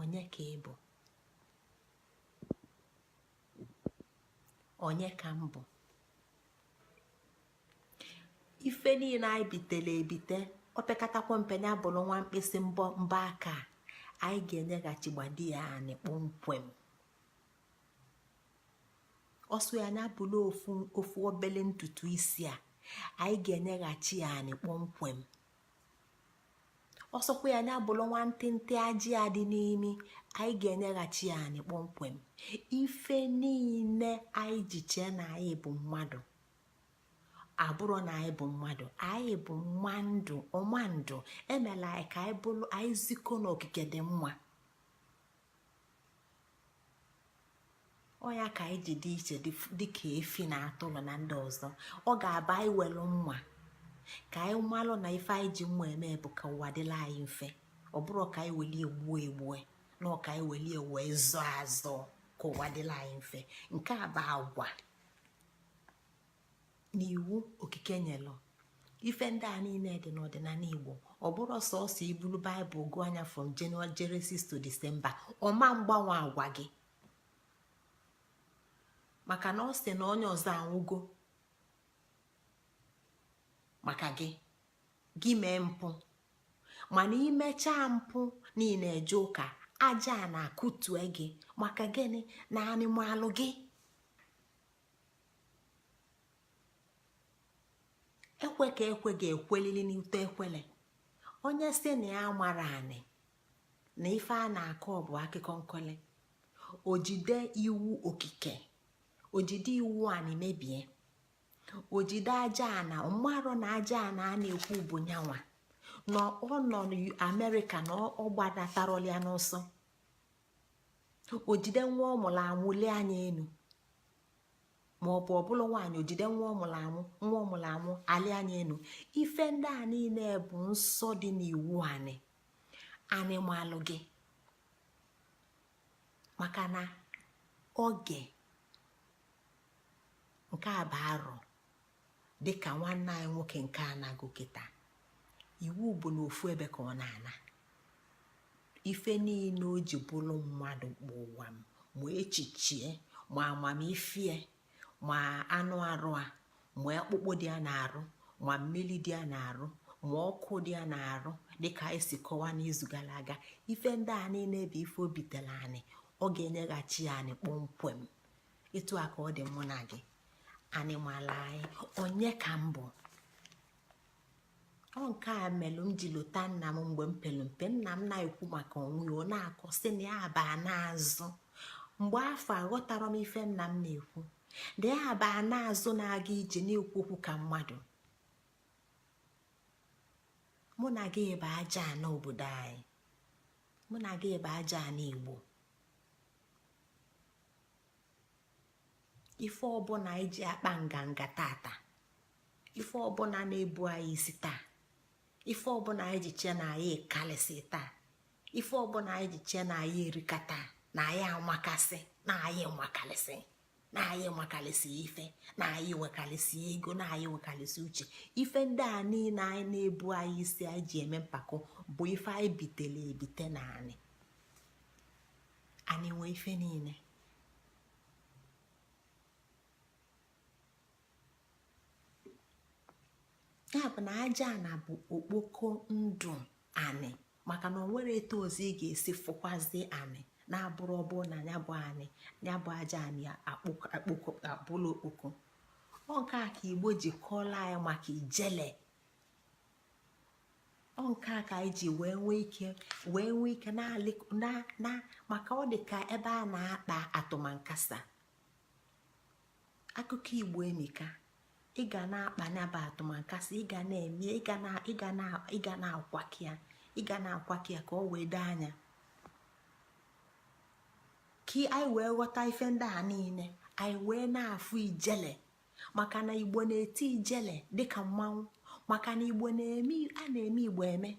onye ka ị bụ onye ka m bụ ife niile anyị bitele ebite o pekatakwa mpe ya bụrụ nwa mkpịsị mbọ mbọ aka anyị ga-enyeghachi gbadi ya anị kpọmkwem ọ sọ ya nya bụrụ ofu obele ntutu isi a anyị ga-enyeghachi ya anị kpọmkwem ọ sọkwa ya nya bụrụ nwa ntịntị ajị a dị n'imi anyị ga-enyeghachi ya anị kpọmkwem ife niile anyị ji chee na anyị bụ mmadụ abụrọ na anyị bụ mmadụ anyị bụ mma ndụ ọ mma ndụ emela anyị ka anyị bụrụ anyị zikọ n'okike dị mma ọ nya ka anyị ji dị iche dịka efi na atụrụ na ndị ọzọ ọ ga-abụ anyị welu mma ka anyị malụ na ife anyị ji mma eme bụ ka ụwa dịla anyị mfe ọ bụrọ ka anyị welie gbue egbue na ọ ka anyị welie wee zọọ azọ ka ụwa dịla anyị mfe nke a bụ agwa na iwu okike nyelụ ife ndị a niile dị n'ọdịnala igbo ọ bụrọ sọsọ ibulu baịbụl gụọ nya from January Genesis to December ọ ma mgbanwe agwa gị maka na ọ sị na onye ọzọ anwụgo maka gị gị mee mpụ mana i mechaa mpụ niile eje ụka aja ana akụtue gị maka gịnị na anị malụ gị ekwe ka ekwe ga-ekwelili n'ute ekwele onye sị na ya amarọ anị na ife a na-akọ bụ akụkọ nkọli o jide iwu okike o jide iwu anị mebie o jide aja ana merụ na aja ana a na-ekwu bụ nya nwa na ọ nọ n'amerịka na ọ gbanatarọlịa n'ọsọ o jide nwa ọ mụrụ amụ lee anya enu ma ọ bụ ọ bụlụ nwaanyị o jide nwa ọ mụrụ amụ nwa ọ mụrụ amụ elee anya enu ife ndị a niile bụ nsọ dị n'iwu anị anị malụ gị maka na oge nke a bụ arọ dịka nwanne anyị nwoke nke a nago kịta iwu bụ na ofu ebe ka ọ na-ana ife niile o ji bụrụ mmadụ bụ ụwa m ma echichie ma amamife ma anụ arụ a ma akpụkpọ dị ya n'arụ ma mmiri dị ya n'arụ ma ọkụ dị ya n'arụ dịka anyị si kọwa n'izu gara aga ife ndị a niile bụ ife o bitere anị ọ ga-enyeghachi ya anị kpọmkwem etu a ka ọ dị mụ na gị anị mala anyị onye ka m bụ ọ nke a melụ m ji lota nna m mgbe m pere mpe nna m na-ekwu maka onwe ya ọ na-akọ sị na ya baa n'azụ mgbe afụ aghọtara m ife nna m na-ekwu na ya baa n'azụ na-aga ije na-ekwu okwu ka mmadụ mụ na gị bụ aja ana obodo anyị mụ na gị bụ aja ana igbo ife ọbụla anyị ji akpa nganga tata ife ọbụla na-ebu anyị isi taa ife ọbụla anyị ji chee na anyị kalịsị taa ife ọbụla anyị ji chee na anyị erika taa na anyị amakasị na anyị makalịsị na anyị makalịsị ife na anyị nwekalịsị ego na anyị nwekalịsị uche ife ndị a niile anyị na-ebu anyị isi anyị ji eme mpako bụ ife anyị bitele ebite na anị anị nwe ife niile ya bụ na aja ana bụ okpoko ndụ anị maka na onwere etu ọzọ ị ga-esi fụkwazi anị na-abụrọ ọbụ na ya bụ anị ya bụ aja anị abụla okpoko ọ nke a ka igbo ji kọọla anyị maka ijele ọ nke a ka anyị ji wee nwee ike wee nwee ike na maka ọ dị ka ebe a na-akpa atụmankasa akụkọ igbo emika ị ga na-akpa nya bụ atụmankasa ị ga na-eme ị ga na-akwaki ya ị ga na-akwaki ya ka ọ wee doo anya ka anyị wee ghọta ife ndị a niile anyị wee na-afụ ijele maka na igbo na-eti ijele dịka mmanwụ maka na igbo na-eme a na-eme igbo eme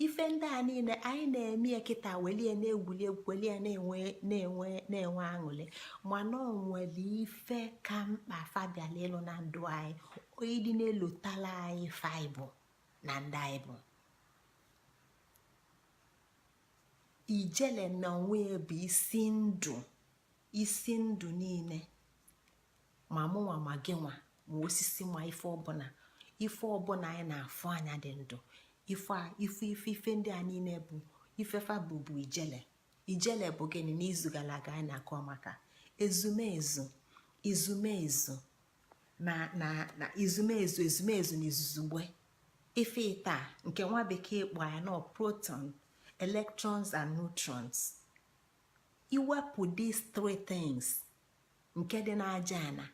ife ndị a niile anyị na-eme kịta welie na-egwuli egwu welie na-enwe na-enwe na-enwe aṅụlị mana ọ nwere ife ka mkpa fa bịala ịlụ na ndụ anyị onye dị na-elotala anyị ife anyị bụ na ndụ anyị bụ ijele na onwe bụ isi ndụ isi ndụ niile ma mụnwa ma gị nwa ma osisi ma ife ọbụla ife ọbụla anyị na-afụ anya dị ndụ ife ife ife ife ndị a niile bụ ife fa bụ bụ ijele ijele bụ gịnị n'izu gala aga anyị na-akọ maka ezumezu izumezu na na na izumezu ezumezu na izuzugbe ife ịtọ nke nwa bekee kpọ ya na proton electrons and neutrons i wepụ these three things nke dị n'aja ana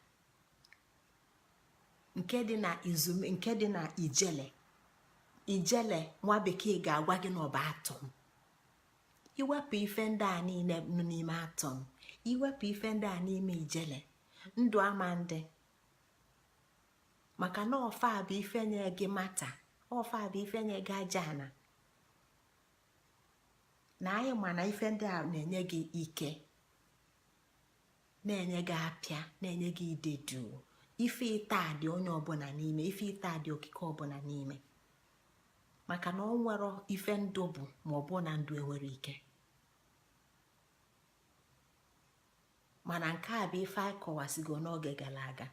nke dị na izume nke dị na ijele ijele nwa bekee ga-agwa gị na ọ bụ atom i wepụ ife ndị a niile nọ n'ime atom i wepụ ife ndị a n'ime ijele ndụ ama adị maka na ọ fa bụ ife nye gị matter ọ fa bụ ife nye gị aja ana na anyị ma na ife ndị a na-enye gị ike na-enye gị apịa na-enye gị ide duu ife ịtọ a dị onye ọbụla n'ime ife ịtọ a dị okike ọbụla n'ime maka na o nwero ife ndụ bụ ma ọ bụ na ndụ enwero ike mana nke a bụ ife anyị kọwasịgo n'oge gara aga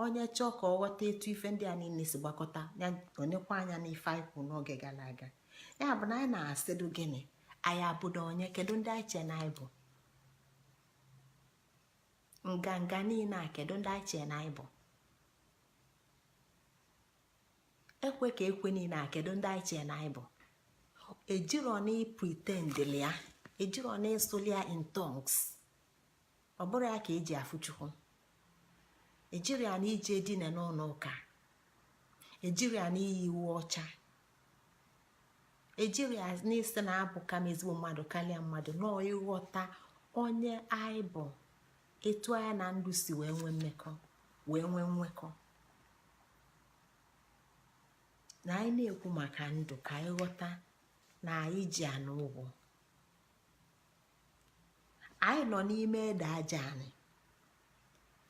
onye chọọ ka ọ ghọta etu ife ndị a niile si gbakọta ya nekwa anya n'ife anyị kwuru n'oge gara aga ya bụ na anyị na-asịdụ gịnị anyị bụdụ onye kedu ndị anyị chee na anyị bụ nganga niile a kedu ndị anyị chee na anyị bụ ekwe ka ekwe niile a kedu ndị anyị chee na anyị bụ ejiro na ipretendili ya ejiro na ịsụli ya in tongues ọ bụrọ ya ka eji afụ chukwu ejiro ya na ije dine n'ụlọ ụka ejiro ya na iyi uwe ọcha ejiro ya na ịsị na abụka m ezigbo mmadụ karịa mmadụ na ọọ ịghọta onye anyị bụ etu anyị na ndụ si wee nwee mmekọ wee nwee nwekọ na anyị na-ekwu maka ndụ ka anyị ghọta na anyị ji ana ụgwọ anyị nọ n'ime ede aja ana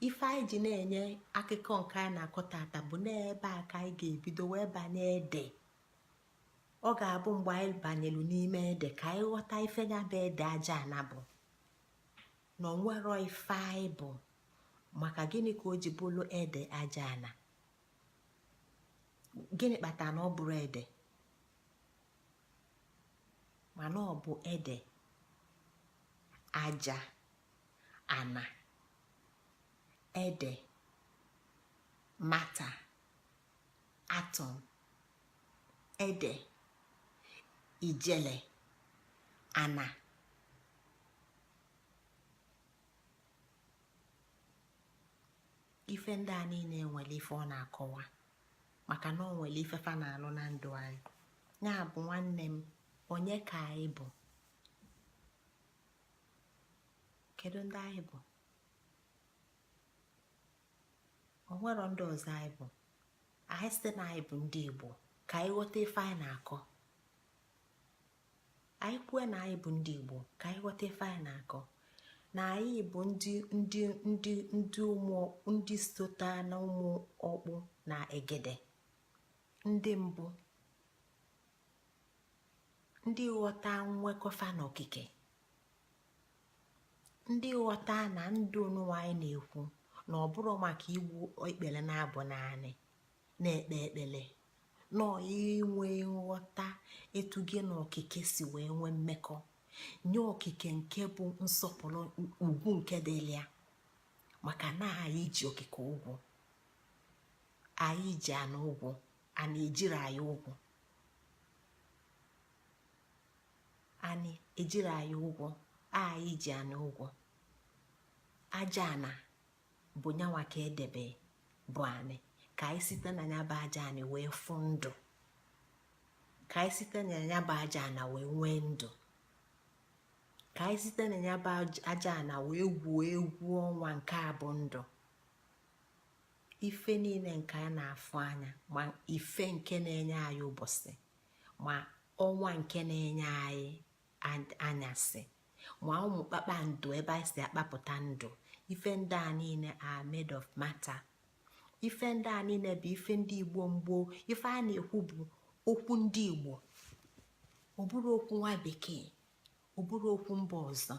ife anyị ji na-enye akụkọ nke anyị na-akọ taata bụ n'ebe a ka anyị ga-ebido wee banye ede ọ ga-abụ mgbe anyị banyelu n'ime ede ka anyị ghọta ife ya bụ ede aja ana bụ na onwero ife anyị bụ maka gịnị ka o ji bụrụ ede aja ana gịnị kpatara na ọ bụrọ ede mana ọ bụ ede aja ana ede matter atom ede ijele ana ife ndị a niile nwere ife ọ na-akọwa maka na o nwere ife fa na-alụ na ndụ anyị ya bụ nwanne m onye ka anyị bụ kedu ndị anyị bụ o nwero ndị ọzọ anyị bụ anyị sị na anyị bụ ndị igbo ka anyị ghọta ife anyị na-akọ anyị kwue na anyị bụ ndị igbo ka anyị ghọta ife anyị na-akọ na anyị bụ ndị ndị ndị ndị ụmụ ndị sota na ụmụ ọkpụ na egede ndị mbụ ndị ghọta nwekọ fa na okike ndị ghọta na ndụ n'ụwa anyị na-ekwu na ọ bụrọ maka igbu ikpele na-abụ n'anị na-ekpe ekpele na inwe nghọta etu gị na okike si wee nwee mmekọ nye okike nke bụ nsọpụlụ ugwu nke dịlị ya maka na anyị ji okike ụgwọ anyị ji anị ụgwọ ana ejirọ anyị ụgwọ anị ejirọ anyị ụgwọ anyị ji anị ụgwọ aja ana bụ nyanwa ka e debe bụ anị ka anyị site na ya bụ aja anị wee fụ ndụ ka anyị site na ya bụ aja ana wee nwee ndụ ka anyị site na ya bụ aja ana wee gwuo egwu ọnwa nke a bụ ndụ ife niile nke a na-afụ anya ma ife nke na-enye anyị ụbọsị ma ọnwa nke na-enye anyị anyasị ma ụmụ kpakpando ebe anyị si akpapụta ndụ ife ndị a niile are made of matter ife ndị a niile bụ ife ndị igbo gboo ife a na-ekwu bụ okwu ndị igbo ọ bụrọ okwu nwa bekee ọ bụrọ okwu mba ọzọ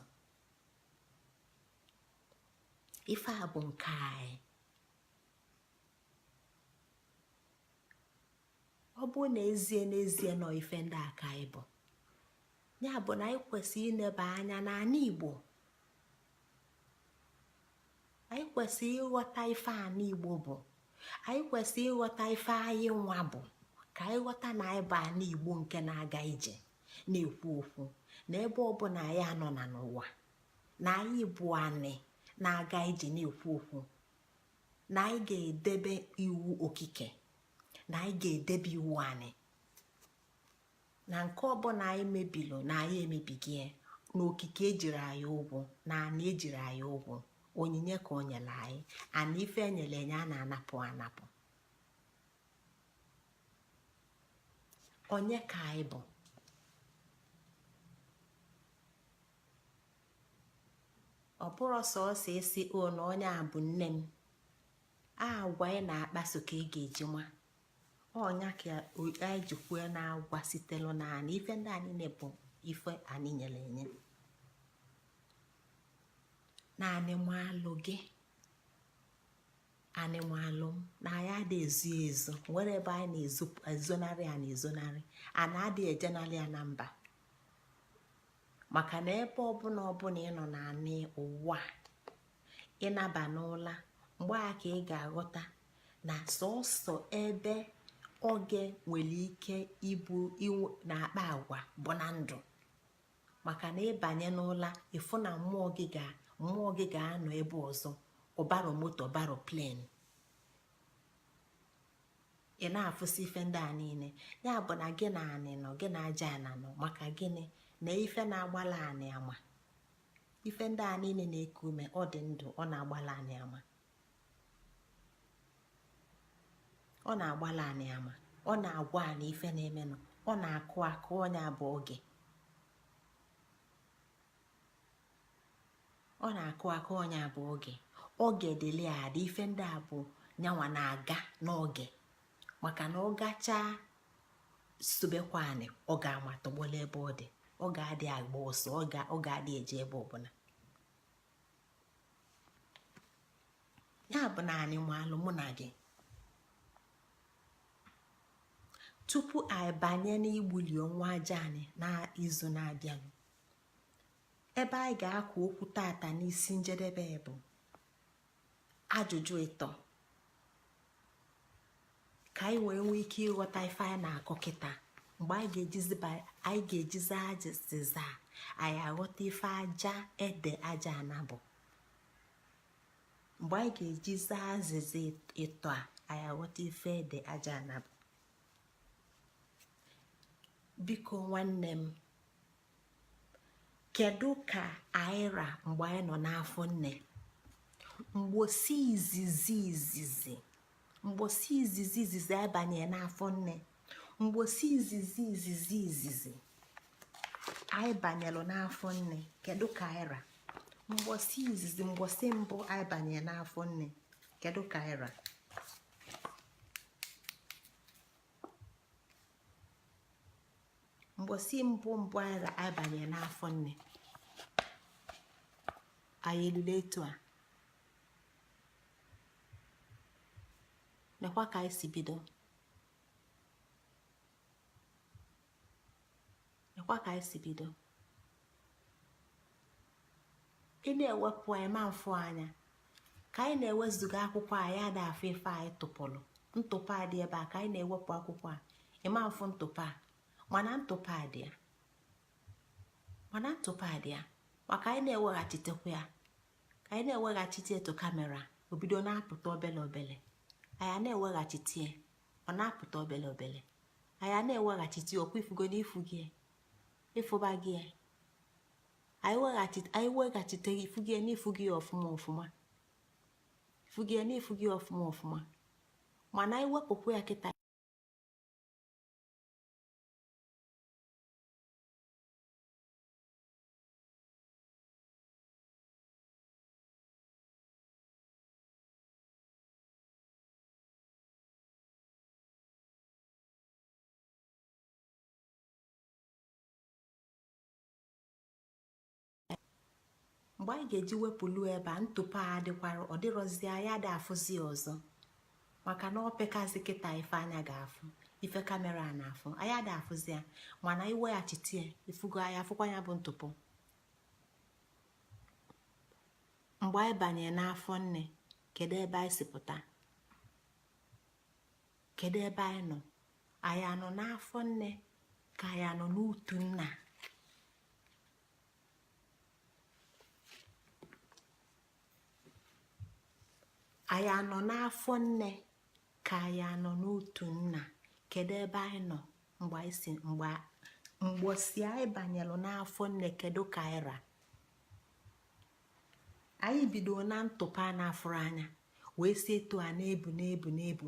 ife a bụ nke anyị ọ bụ n'ezie n'ezie na ọ ife ndị a ka anyị bụ ya bụ na anyị kwesịrị ineba anya n'anị igbo anyị kwesịrị ịghọta ife anị igbo bụ anyị kwesịrị ịghọta ife anyị nwa bụ ka anyị ghọta na anyị bụ anị igbo nke na-aga ije na-ekwu okwu na ebe ọbụna anyị nọna n'ụwa na anyị bụ anị na-aga ije na-ekwu okwu na anyị ga-edebe iwu okike na anyị ga-edebe iwu anị na nke ọbụna anyị mebilo na anyị emebigo ya na okike ejirọ anyị ụgwọ na anị ejirọ anyị ụgwọ onyinye ka o nyelu anyị and ife enyelu enye a na-anapụ anapụ onye ka anyị bụ ọ bụrọ sọsọ ịsị o na onye a bụ nne m agwa ị na-akpaso ka ị ga-eji ma ọ ya ka anyị ji kwue na agwa sitelu na anị ife ndị a niine bụ ife anị nyere enye na anị maalụ gị anị maalụ m na anyị adị ezo ezo nwere ebe anyị na-ezonarị anị ezonarị ana adị ejenarị ya na mba maka na ebe ọbụna ọbụna ị nọ na anị ụwa ị naba n'ụla mgbe a ka ị ga-aghọta na sọsọ ebe oge nwere ike ịbụ na-akpa agwa bụ na ndụ maka na ị banye n'ụla ị fụ na mmụọ gị ga mmụọ gị ga-anọ ebe ọzọ ọ barọ moto ọ barọ plane ị na-afụsị ife ndị a niile ya bụ na gị na anị nọ gị na aja ana nọ maka gịnị na ife na-agbala anị ama ife ndị a niine na-eku ume ọ dị ndụ ọ na-agbala anị ama ọ na-agbala anị ama ọ na-agwa anị ife na-emenụ ọ na-akụ akụ ọ nya bụ oge ọ na-akụ akụ ọ nya bụ oge oge dịlị adị ife ndị a bụ nyanwa na-aga n'oge maka na ọ gachaa sobekwa anị ọ ga-ama tọgbọla ebe ọ dị ọ ga-adị agba ọsọ ọ ga-adị eje ebe ọbụna ya bụ na anị maalụ mụ na gị tupu anyị banye n'igbuli ọnwa aja anị n'izu na-abịanụ ebe anyị ga-akụ okwu tata n'isi njedebe bụ ajụjụ ịtọ ka anyị wee nwee ike ịghọta ife anyị na-akọ kịta mgbe anyị ga-ejizi azịza anyị aghọta ife aja ede aja ana bụ mgbe anyị ga-ejizi azịza ịtọ a anyị aghọta ife ede aja ana bụ biko nwanne m kedu ka anyị ra mgbe anyị nọ n'afọ nne mgbosi izizi izizi mgbosi izizi izizi anyị banye n'afọ nne mgbosi izizi izizi izizi anyị banyelu n'afọ nne kedu ka anyị ra mgbosi izizi mgbosi mbụ anyị banye n'afọ nne kedu ka anyị ra mbọsị mbụ mbụ anyị banye n'afọ nne anyị elule etu a mekwa ka anyị si bido mekwa ka anyị si bido ị na-ewepụ anyị ma mfụ anya ka anyị na-ewezuga akwụkwọ anyị ada afụ ife anyị tụpụrụ ntụpọ a dị ebe a ka anyị na-ewepụ akwụkwọ a ị ma afụ ntụpọ a mana ntụpọ a dị ya mana ntụpọ a dị ya maka anyị na-eweghachitekwa ya ka anyị na-eweghachite etu kamera o bido na-apụta obele obele anyị na-eweghachite ya ọ na-apụta obele obele anyị na-eweghachite ọkwa ị fụgo n'ifu gị ị fụbago ya anyị weghachite ya ị fụgo ya n'ifu gị ọfụma ọfụma ị fụgo ya n'ifu gị ọfụma ọfụma mana anyị wepụkwa ya kịta mgbe anyị ga-eji wepụlụ ebe a ntụpọ a dịkwara ọ dịrọzi anyị ada afụzi ọzọ maka na o pekazị kịta ife anya ga-afụ ife kamera a na-afụ anyị ada afụzi ya mana i weghachite ya ị fụgo anyị afụkwa ya bụ ntụpọ mgbe anyị banye n'afọ nne kedu ebe anyị si pụta kedu ebe anyị nọ anyị anọ n'afọ nne ka anyị anọ n'utu nna anyị anọ n'afọ nne ka anyị anọ n'utu nna kedu ebe anyị nọ mgbe anyị si mgbe mbọsị anyị banyelụ n'afọ nne kedu ka anyị ra anyị bido na ntụpọ a na-afụrọ anya wee si etu a na-ebu na-ebu na-ebu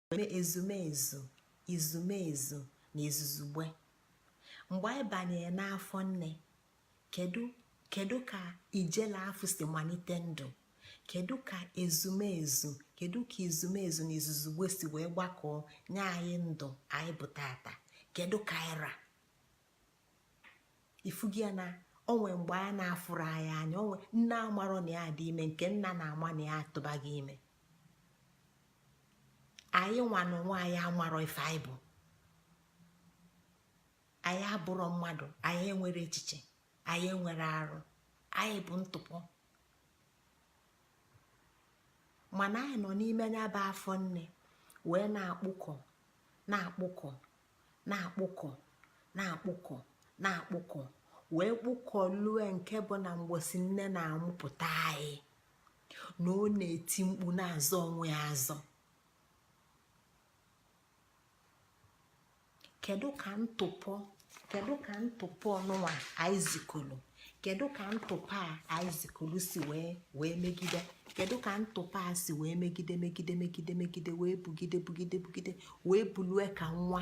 na-eme ezumezu izumezu na izuzugbe mgbe anyị banyere n'afọ nne kedu kedu ka ijele afụ si malite ndụ kedu ka ezumezu kedu ka izumezu na izuzugbe si wee gbakọọ nye anyị ndụ anyị bụ tata kedu ka anyị ra ị fụgo ya na o nwe mgbe a na-afụrọ anyị anya onwe nne amarọ na ya dị ime nke nna na-ama na ya atụbago ime anyị nwa na onwe anyị amarọ ife anyị bụ anyị abụrọ mmadụ anyị enwerọ echiche anyị enwerọ arụ anyị bụ ntụpọ mana anyị nọ n'ime nya bụ afọ nne wee na-akpụkọ na-akpụkọ na-akpụkọ na-akpụkọ na-akpụkọ wee kpụkọ lue nke bụ na mbọsị nne na-amụpụta anyị na ọ na-eti mkpu na-azọ onwe ya azọ kedu ka ntụpọ kedu ka ntụpọ nụnwa aizikulu kedu ka ntụpọ a aizikulu si wee wee megide kedu ka ntụpọ a si wee megide megide megide megide wee bugide bugide bugide wee bulue ka nwa